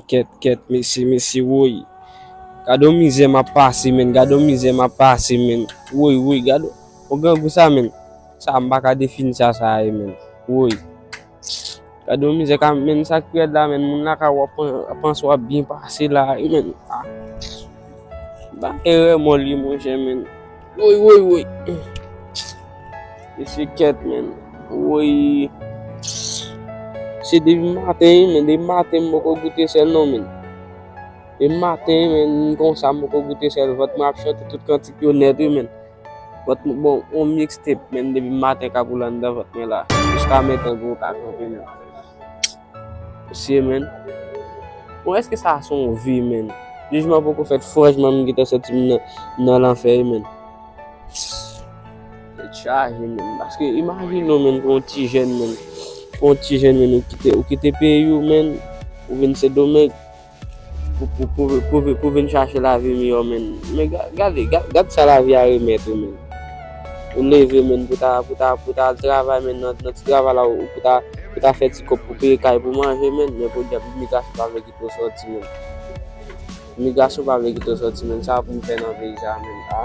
Kèt kèt mesye mesye woy Gade yon mizè map pase men Gade yon mizè map pase men Woy woy gade yon grangou sa men Sa m paka defini sa sa ye menm woy gade yon mizè ka menn sak pi rèd la menn moun lakay ou ap panse wap byen pase la wi menn ah bagay remò liye monchè menn woy woy woy mesye kèt menn woy se depi maten wi menn depi maten m poko goute sèl non menn depi maten menn m konsa m poko goute sèl vant mwen ap chante tout kantik yo nèt wi menn. Vant mwen bon yon mixtape menm depi maten kapou la andan vant mwen la jiska metan gwo kaka anpil menm mesye menn bon eske sa son vi menn jijman poko fèt franchman m gentan santi m nan lanfè wi menn tèt chaje menn paske imajine w menn pou yon ti jèn menn pou yon ti jèn menn ou kite peyi w menn ou vin sendomeng. Pou vin chache lavi miyò menn. Men gade, gade sa lavi a remèt ou menn. Ou leve menn pou ta, pou ta, pou ta al travay menn nan ti travay la ou pou ta, pou ta fè ti kòb pou peye kay pou manje menn. Men podyab imigrasyon pa vle kite w sòti menn. Imigrasyon pa vle kite w sòti menn. Sa pou m fè nan peyi sa menn a?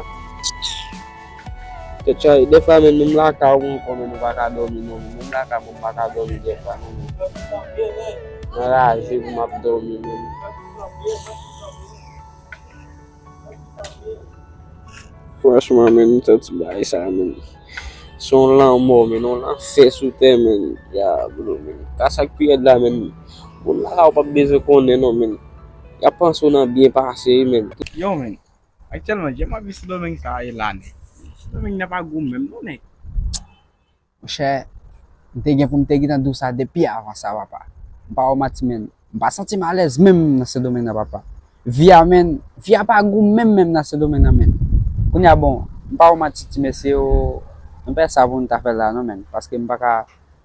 Tchay, defwa menm menm lakay ou mwen konnen nou pa ka domi non menm lakay mwen mpa ka domi defwa non menm mwen raje pou map domi menm. Franchman menm mntan ti bagay sa menm son lanmò menn yon lanfè sou tè menn ya bro menm sa sak pi rèd la menm moun lakay ou pap bezwen konnen non menn yap panse ou nan byen pase menn. Yow menn Aktyèlman jan map viv sendomeng sa e la nèg. Sendomeng nan pa gou menm non nèg. Monchè, m te gen pou m te gentan di w sa depi avan sa papa. M pa wè w mati men, m pa santi m alèz menm nan sendomeng nan papa. Vi a menn, vi a pa gou menm menm nan sendomeng nan menn. Kounye a bon, m pa wè w mati ti mesye o, nou pa gen sa pou nou ta fè la non menn. Paske m pa ka,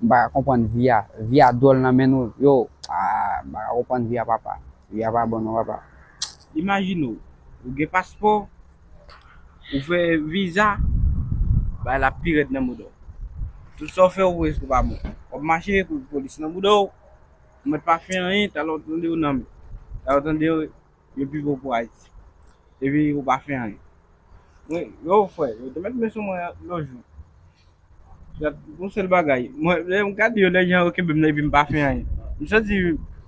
m pa ka konprann vi a. Vi a dwòl nan menn nou, yo, ah, m pa ka konprann vi a papa. Peyi a pa bon non papa. Imajine w, ou gen paspò, ou fè viza, bagay la pi rèd nan mouda w. Tout sa w fè ou prèske pa bon. W ap mache pou polis nan mouda w, ou mèt pa fè anyen, talè w tande yo nanm, talè w tande yo pi fò pou Ayiti. Epi ou pa fè anyen. Mwen, yo frè, yo te mèt men sou mwen lòt jou. Dat gon sèl bagay, mwen lè m gade yo lè jan yo kenbe m nan epi m pa fè anyen. M santi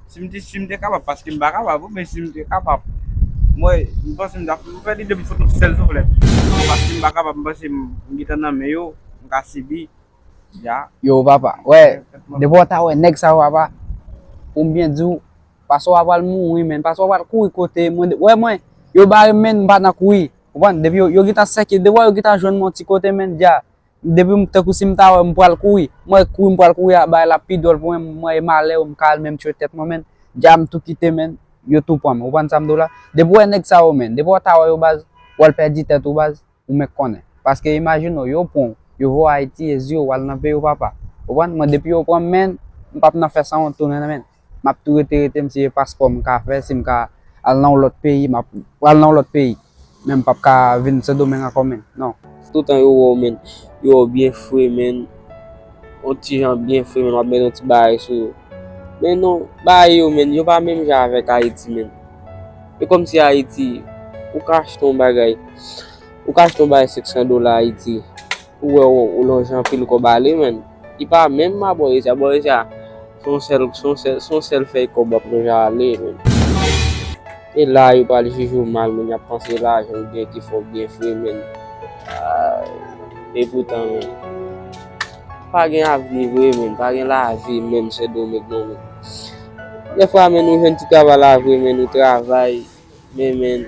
si m te si m te kapab paske m pa kapab men si m te kapab mwen m panse m ta fout fè li 2 m fout yon ti sèl souflèt men paske m pa kapab m panse m gentan nan men yo m ka sibi ya. Yo papa, wè depi w ta wè nèg sa yo papa pou m byen di w paswa pral mouri menn paswa pral kouri kote mwen wè mwen yo bare m menn m pa nan kouri Konprann? Depi yo, yo gentan sèke, devan yo gentan jwenn mwen yon ti kote men dja, depi m, tankou si m ta wè m pral kouri, mwen wè kouri m pral kouri a, bagay la ap pi dwòl pou mwen, mwen e malè yo m ka al menm tchwe tèt mwen men, dja m tou kite men, yo tou pran m. Ou konprann sa m di w la? Depi w wè nèg sa yo men, depi w ta wè yo baz, w al pèdi tèt ou baz, ou menk konnen. Paske imajine w, yo pran w, yo voye w Ayiti, e zi w, w al nan peyi w papa. Ou konprann? Mwen depi yo pran m men, m p ap nan fè sanwont tounen nan men. Map tou rete rete m si e paspò m ka fè si m ka al nan yon lòt peyi map pral nan yon lòt peyi men m pap ka vin sendomeng ankò menn non. Toutan yo wèw menn yo wèw byen fre menn yon ti jan byen fre menn wap met yon ti bagay sou yo men non bagay yo menn yo pa menm jan avèk ayiti menn e kòmsi ayiti ou ka achte yon bagay ou ka achte yon bagay 500 dola ayiti. Ou wè ou lonje anpil kòb ale menn. Li pa menm ma bòreja bòreja son sèl fèy kòb wap lonje ale menn. E la yo pral jije w mal menn yap panse se lajan ou gen ki fè w byen fre menn aayy e poutan menn pa gen avni vre menn pa gen lavi menn sendomeng non menn dèfwa menn ou jwenn ti travay la vre menn ou travay Men men,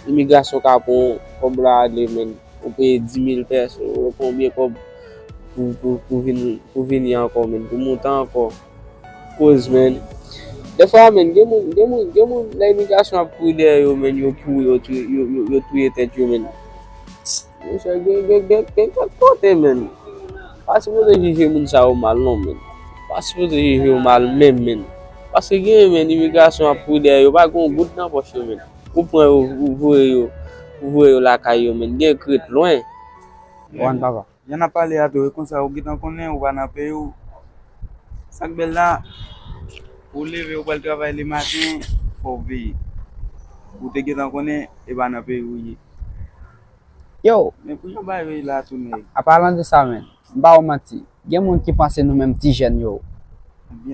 imigrasyon ka pran kòb la ale men. Ou peye 10.000 pès, ou pran oubyen kòb pou vini ankò men, pou monte ankò. Kouz men, defwa men, gen moun, gen moun, gen moun lè imigrasyon ap kouri dèyè yo men, yo kouri, yo touye, yo touye tèt yo men. Mon chè, gen, gen, gen, gen kèk kote men. Pa sipoze jije moun sa yo mal non men. Pa sipoze jije yo mal menm men. Paske gen yon men imigrasyon ap kouri dèyè yo pa gen yon goud nan pòch yo men ou pran yo ou voye yo ou voye yo lakay yo men gen k ret lwen. One papa. Jan nap pale a tou e konsa ou gentan konnen ou pa nan peyi w sak bèl la ou leve ou pral travay le maten fòw veye ou te gentan konnen e pa nan peyi w ou ye Yo! Men pou jan bagay yo ye la tou nèg. Apalan de sa menn. M pa wè w manti. Gen moun ki panse nou menm ti jèn yo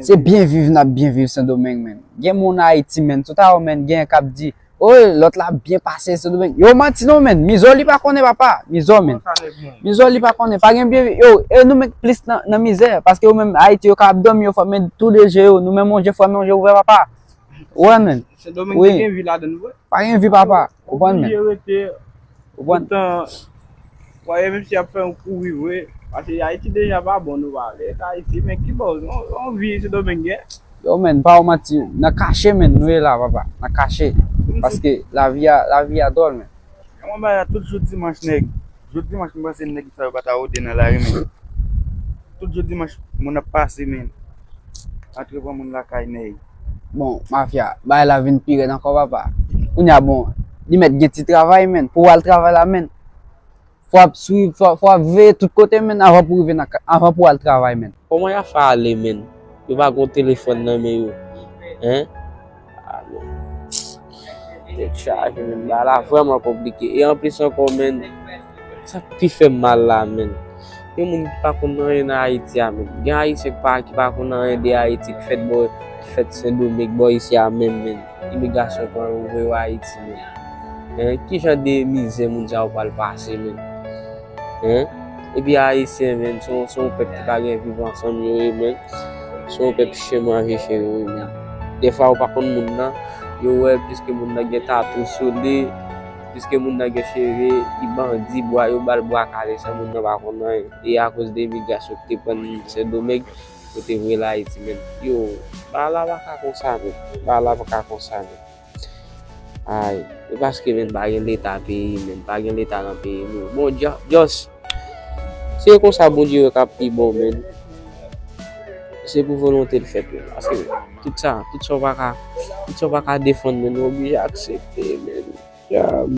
se byen viv n ap byen viv sendomeng menn. Gen moun Ayiti menn sou ta yo menn genyen k ap di Woy lòt la ap byen pase sendomeng. Yo manti non menn. Mizò li pa konnen papa. Mizò menn. Mizò li pa konnen. Pa gen byen viv. Yo e nou menm k plis nan mizè. Paske yo menm Ayiti yo ka ap dòmi yo fèmen tou de je yo. Nou menm yon je fèmen yon je ouvè papa. Ou wè menn. Sendomeng te gen vi ladan l vre. Pa gen vi papa, ou konprann men. Ou oblije rete pou tan fwaye misye ap fè yon kouri vre. Pase Ayiti deja pa bon nou pa ale Ayiti men ki bòz yon vi sendomeng gen. Yo menn pa ou manti nan kache menn nou ye la papa nan kache paske lavi a lavi a dòl menn. Yon bagay tout jou dimanch nèg. Jou dimanch m panse nèg sa yo pa ta rode nan lari men tout jou dimanch moun ap pase men antre pran moun lakay nèg. Bon mafya, bagay la vin pi rèd ankò papa. Kounya bon, li mèt gen ti travay menn, pou al travay la menn. Fò ap swiv, fò ap veye tout kote menn avan pou rive nan ka, avan pou al travay menn. Kòman yap fè ale menn? Yo pa gon telefòn nan men yo hein. Tèt chaje men, bagay la vrèman konplike e anplis ankò men, sa k pi fè m mal la men, gen moun ki pa konn anyen nan Ayiti a men, gen Ayisyen ki pa konn anyen de Ayiti ki fèt bò, ki fèt Sendomeng bò isi a menm men, imigrasyon pran yo voye yo Ayiti men, kijan de mizè moun sa yo pral pase menm. E pi ayisyen menm se yon pèp ki pa gen viv ansanm yo ye menm. Se yon pèp chen manje chen yo ye menm. Defwa ou pa konn moun nan, yo wè piske moun nan gen tatou sou li, piske moun nan gen cheve, li bandi, bwa yo ba l bwa kale san moun nan pa konn anyen. E akoz de imigrasyon ki te pran n Sendomeng, yo te voye l Ayiti menm. Yo, bagay la pa ka konsa menm. Bagay la pa ka konsa menm. Ay, e paske menm pa gen leta peyi menm, pa gen leta nan peyi nou. Bon, just, si e konsa Bondye wè k'ap pi bon menn, se pou volonte l fèt menn, paske tout sa, tout sa w pa ka, tout sa w pa ka defann menn ou oblije aksepte menn. Diab!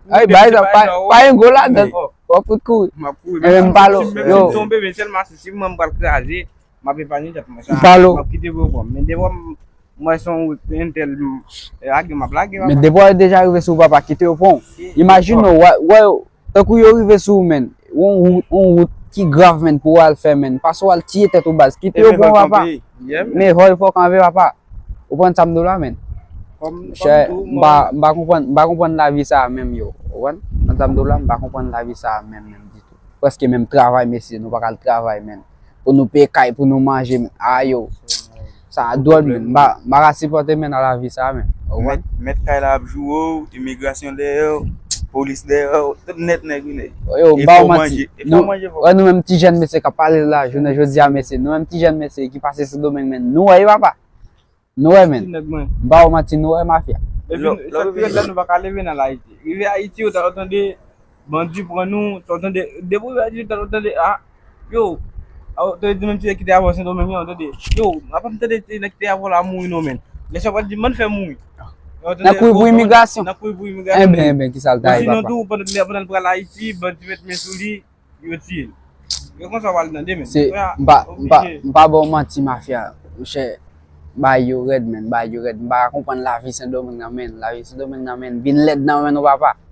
Ay bay sa pa pa yon gol la dan. Wap fout kouri. Map kouri. Mwen m palo. Yo. Mwen tombe men sel ma si mwen m pral kraze. Map epanye tet mwen sa. Palo. Map kite vre bon. Men devan m mwen son entel m lage map lage papa. Men devan yo deja rive sou papa kite yo pran w. Imajine w wè yo tankou yo rive sou w men. Yon yon wout ki grav men pou wal fè men. Pase wal tiye tet ou baz. Kite yo pran w papa. Men hall fok anve papa. Ou konprann sa m di w la men. M pa konprann lavi sa a menm yo. Ou konprann? Ou konprann sa m di w la? M pa konprann lavi sa a menm menm ditou. Prèske menm travay mesye nou pa ka al travay menm. Pou nou peye kay, pou nou manje menm. A yo! Sa a dwòl menm. M pa ka sipòte menm nan lavi sa a menm. Ou konprann? Mèt kay la ap joure w, imigrasyon dèyè w, polis dèyè w. Tout nèt nèg vin. Yo, m pa w manti. Nou wè nou menm ti jèn mesye kap pale la jounen jodi a mesye nou menm ti jèn mesye ki pase sendomeng men nou wè wi papa nou wè men m pa wè w manti nou wè mafya sak pi rèd la nou paka leve nan ayiti rive ayiti ou ta dwe tande bandi pran nou ta dwe tande depi w rive ayiti ou ta dwe tande a yo a ou ta dwe di menm ti nèg ki te avè w sendomeng yo tande yo a pa m tande ti nèg ki te avè w la mouri non men lè sa yo pral di m ann fè mouri Nan kouy pou imigrasyon. Nan kouy pou imigrasyon. Enben, enben, ki sa l ta ye, papa? Ou di non tou, pandan li ap pral Ayiti, bandi met men sou li, yo tiye l. E kon sa w pral tande men. Se, m pa, m pa, m pa ba w manti, mafya. Monchè, bagay yo rèd men, bagay yo rèd. M pa ka konprann lavi Sendomeng nan men. Lavi Sendomeng nan men vin lèd nan men nou, papa.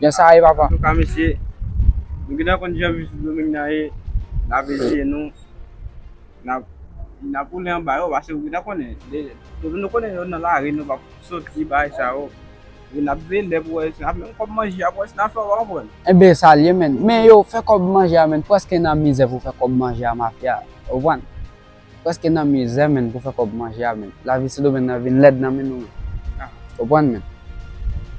Jan sa ye papa. Antouka mesye Nou gentan konn jan viv sou domeng nan ye Lave je nou Nap woule anba yo pase ou gentan konnen Depi nou konnen yo nan lari nou pap soti bay sa yo Epi nap vele pou wè si nap menm kob manje a pou wè si nap fè ou pa konprann. Enben sa l ye menn. Men yo fè kòb manje a menn. Pwèske nan mizè pou fè kòb manje a mafya. Ou konprann? Preske nan mizè menn pou fè kòb manje a menn. Lavi sendomeng nan vin lèd nan men nou menn. Ou konprann menn.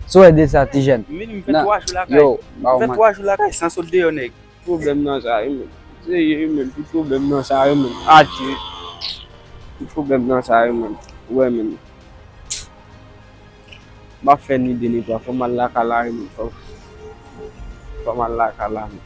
Sa ou wè de sa ti jèn? Min m fè 3 jou lakay. Yo, m pa ou manti. M fè 3 jou lakay san sot deyò nèg. Pwoblèm nan sa wi menn. Seye wi menn tout pwoblèm nan sa wi menn. Adye. Tout pwoblèm nan sa wi menn. Ou wè menn. M pa fè ni 2 ni 3 fò m al lakay la wi menn. Fò m al lakay la menn.